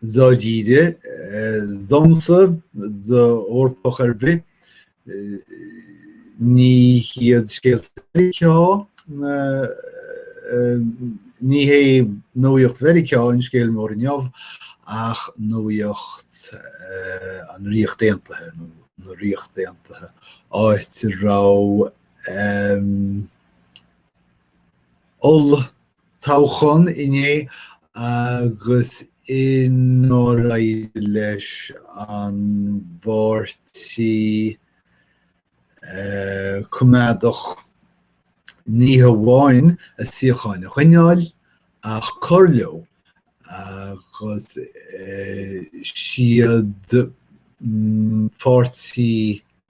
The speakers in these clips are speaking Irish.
dáiríre, domsa, d'Eorpach ar bith, ní hiad scéalta Mheiriceá, ní hé nuaíocht Mheiriceá an scéal mór inniu ach nuaíocht an Ríocht Aontaithe, nó na Ríocht Aontaithe, áit a raibh oll. toghchán inné agus inar éirigh leis an bPáirtí Coimeádach ní hamháin a suíocháin a choinneáil ach cur leo agus siad Páirtí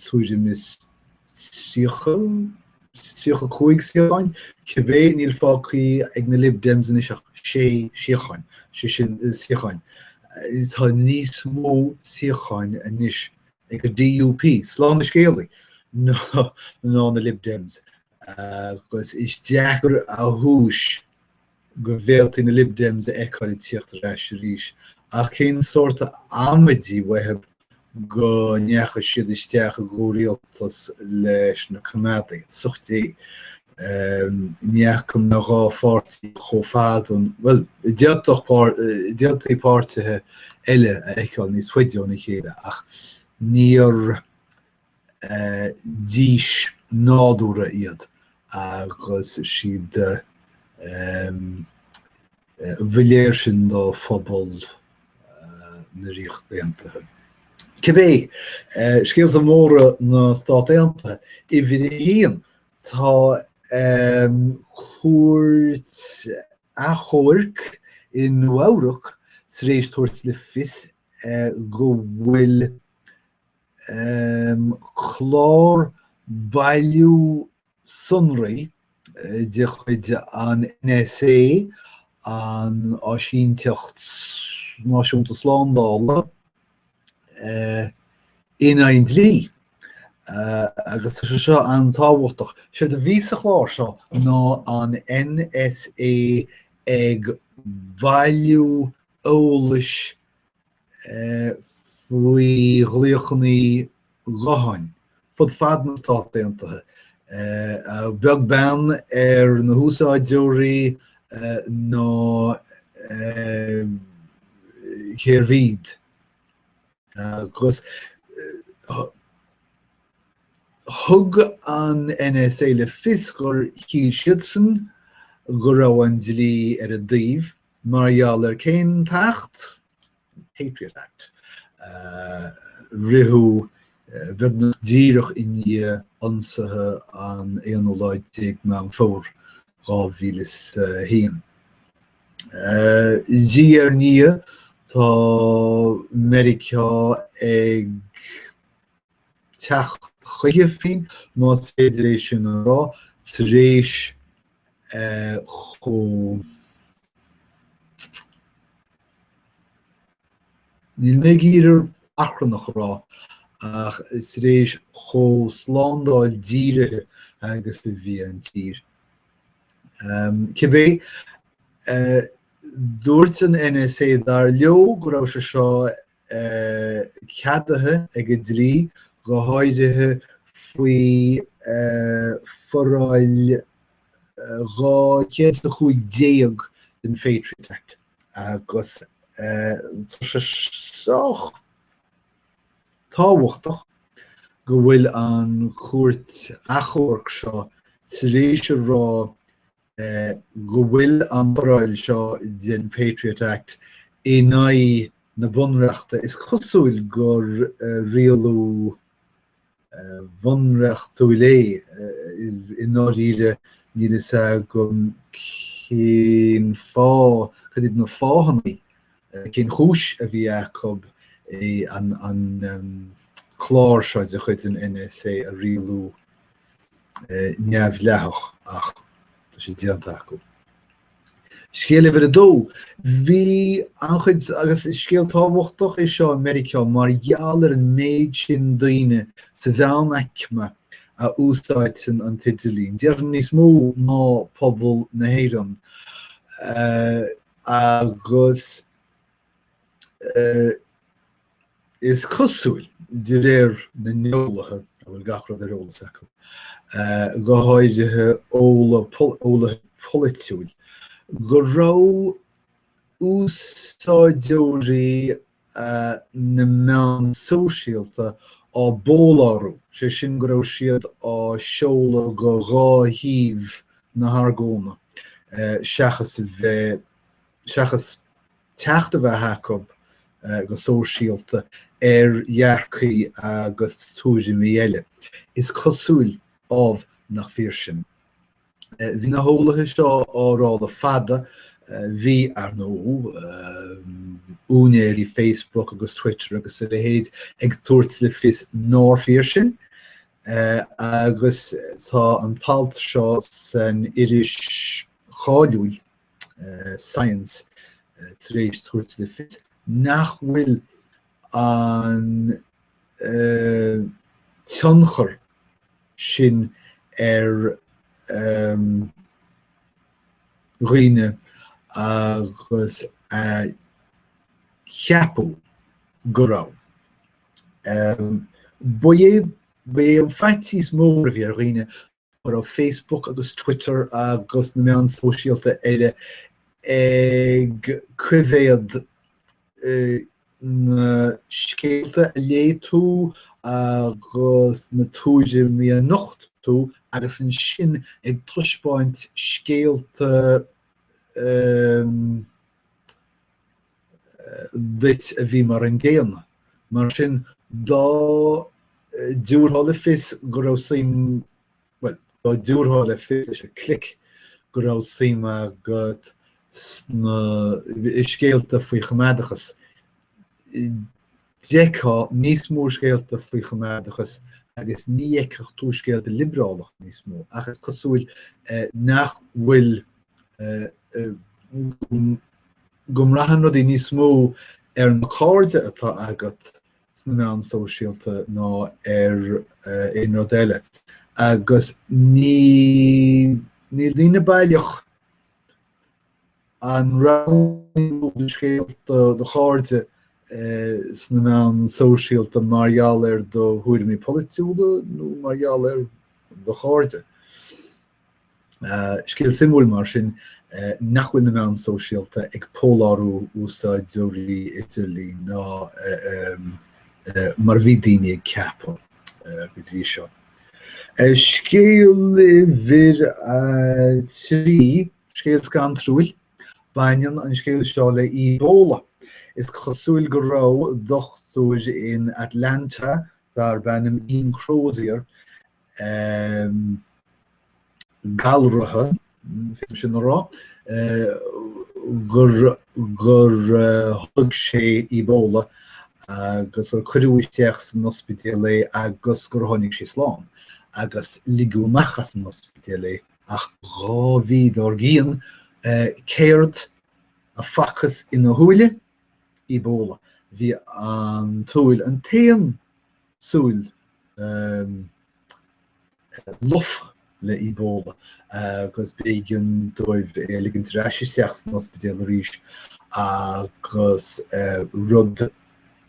tuairim is 35 suíocháin, cibé, níl fágthaí ag na Lib Dems anois ach sé shuíocháin, sé sin, suíocháin. Tá níos mó suíocháin anois ag an DUP, slán an scéalaí! ná na Lib Dems, agus is deacair a thomhais go bhféadfaí na LibDems a fheiceáil ag tíocht ar ais arís, ach cén sórt amaidí uathu go ndeachaigh siad isteach i gcomhrialtas leis na Coimeádaigh, as ucht Dé. Ní fhaca mé dhá pháirtí chomh fada an, bhuel, d'fhéadfaí páirtithe eile a fheiceáil níos faide óna chéile ach níor dís nádúrtha iad agus is iad ba léir sin do phobal na Ríochta Aontaithe. Cibé, scéalta móra na Stát Aontaithe, uimhir a haon, tá cúirt achomhairc i Nua-Eabhrac tar éis tabhairt le fios go bhfuil clár bailiú sonraí de chuid an NSA, an Áisínteacht Náisiúnta Slándála, in aghaidh an dlí, agus tá sé seo an-tábhachtach. Séard a bhí sa chlár seo ná an NSA ag bailiú eolais faoi ghlaochanna gutháin fud fad na Stát Aontaithe, beag beann ar na húsáideoirí ná cérbh iad. Agus thug an NSA le fios gur shíl siadsan go raibh an dlí ar a dtaobh, Mar gheall ar cén t-acht? Patriot Act. Ritheadh beagnach díreach i ndiaidh ionsaithe an aonú lá déag Meán Fómhair 2001. Diaidh ar ndiaidh tá Meiriceá ag. teacht chuige féin, más féidir é sin a rá, tar éis chomh. níl mé ag iarraidh achrannach a rá, ach tar éis chomh slándáil dírithe agus a bhí an tír. Cibé, dúirt an NSA, dar leo, go raibh sé seo ceadaithe ag an dlí, go háirithe faoi Foráil 215 den Patriot Act, agus tá sé sách tábhachtach go bhfuil an Chúirt Achomhairc seo tar éis a rá go bhfuil an fhoráil seo den Patriot Act in aghaidh na Bunreachta, is cosúil gur rialú bunreachtúil é, i ndáiríre níl a fhios agam cén fáth, cad iad na fáthanna, cén chúis a bhí acu an clár seo de chuid an NSA a rialú. neamhdhleathach ach tá sé déanta acu. Scéal uimhir a dó, bhí anchuid agus is scéal tábhachtach é seo i Meiriceá mar gheall ar an méid sin daoine sa mheánaicme a úsáideann an t-idirlíon. Déarfainn níos mó ná pobal na hÉireann agus Is cosúil, de réir na n-eolaithe a bhfuil gach rud ar eolas acu, go háirithe eolaithe polaitiúla, go raibh úsáideoirí na meán sóisialta á bpólárú, sé sin go raibh siad á seoladh go dhá thaobh na hargóna seachas teacht a bheith acu, go sóisialta, ar dhearcthaí agus tuairimí eile. Is cosúil, ámh, nach fíor sin. Bhí na heolaithe seo á rá le fada, bhí, ar ndóigh, úinéirí Facebook agus Twitter agus a leithéid ag tabhairt le fios nárbh fhíor sin, agus tá an t-alt seo san iris cháiliúil Science tar éis tabhairt le fios nach bhfuil an tionchar sin ar dhaoine agus a ceapadh go raibh. Ba é an faitíos mór a bhí ar dhaoine Go raibh Facebook agus Twitter agus na meáin sóisialta eile ag coimhéad na scéalta a léigh tú agus na tuairimí a nocht tú agus ansin ag taispeáint scéalta duit a bhí mar an gcéanna. Mar sin, dá dtiúrfá le fios go raibh suim, bhuel, dá dtiúrfá le fios leis an clic go raibh suim agat sna scéalta faoi choimeádachas, D'fheicfeá níos mó scéalta faoi choimeádachas agus ní fheicfeadh tú scéalta liobrálacha níos mó ach is cosúil nach bhfuil, go mbraitheann rudaí níos mó ar na cairde atá agat sna meáin sóisialta ná ar aon rud eile agus níl daoine baileach An roghnaíonn tú do scéalta do chairde sna meáin sóisialta mar gheall ar do thuairimí polaitiúla nó mar gheall ar do chairde? Scéal suimiúil mar sin nach bhfuil na meáin sóisialta ag pólárú úsáideoirí idirlín nó mar a bhí daoine ag ceapadh go dtí seo. Scéal uimhir trí Scéal scanrúil. Baineann an scéal seo le Ebola. Is cosúil go raibh dochtúir in Atlanta darb ainm Ian Crozier galraithe, féadaim sin a rá, gur tholg sé Ebola agus gur cuireadh isteach san ospidéal é agus gur tháinig sé slán agus ligeadh amach as an ospidéal é Ach dhá mhí dár gcionn, céard a facthas ina shúil? Ebola. Bhí an tsúil, an t-aon tsúil lofa le Ebola agus b'éigean dóibh é a ligint ar ais isteach san ospidéal arís agus rud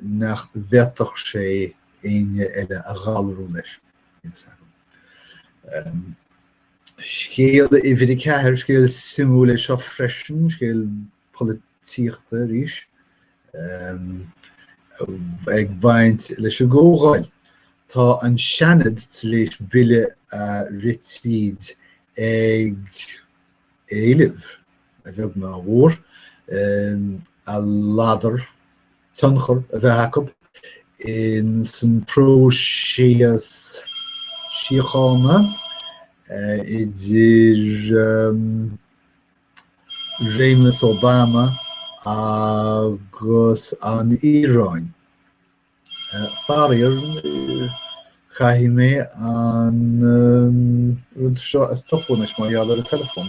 nach bhféadfadh sé éinne eile a ghalrú leis. Scéal uimhir a ceathair, scéal suimiúil é seo freisin, scéal polaitíochta arís, ag baint leis an gcomhdháil. Tá an Seanad tar éis bille a rith tríd ag éileamh, a bheag ná a mhór, a ladar tionchar a bheith acu ins an próiseas síochána idir réimeas Obama agus an Iaráin. Faraor, caithfidh mé an rud seo a stopadh anois mar gheall ar an teileafón.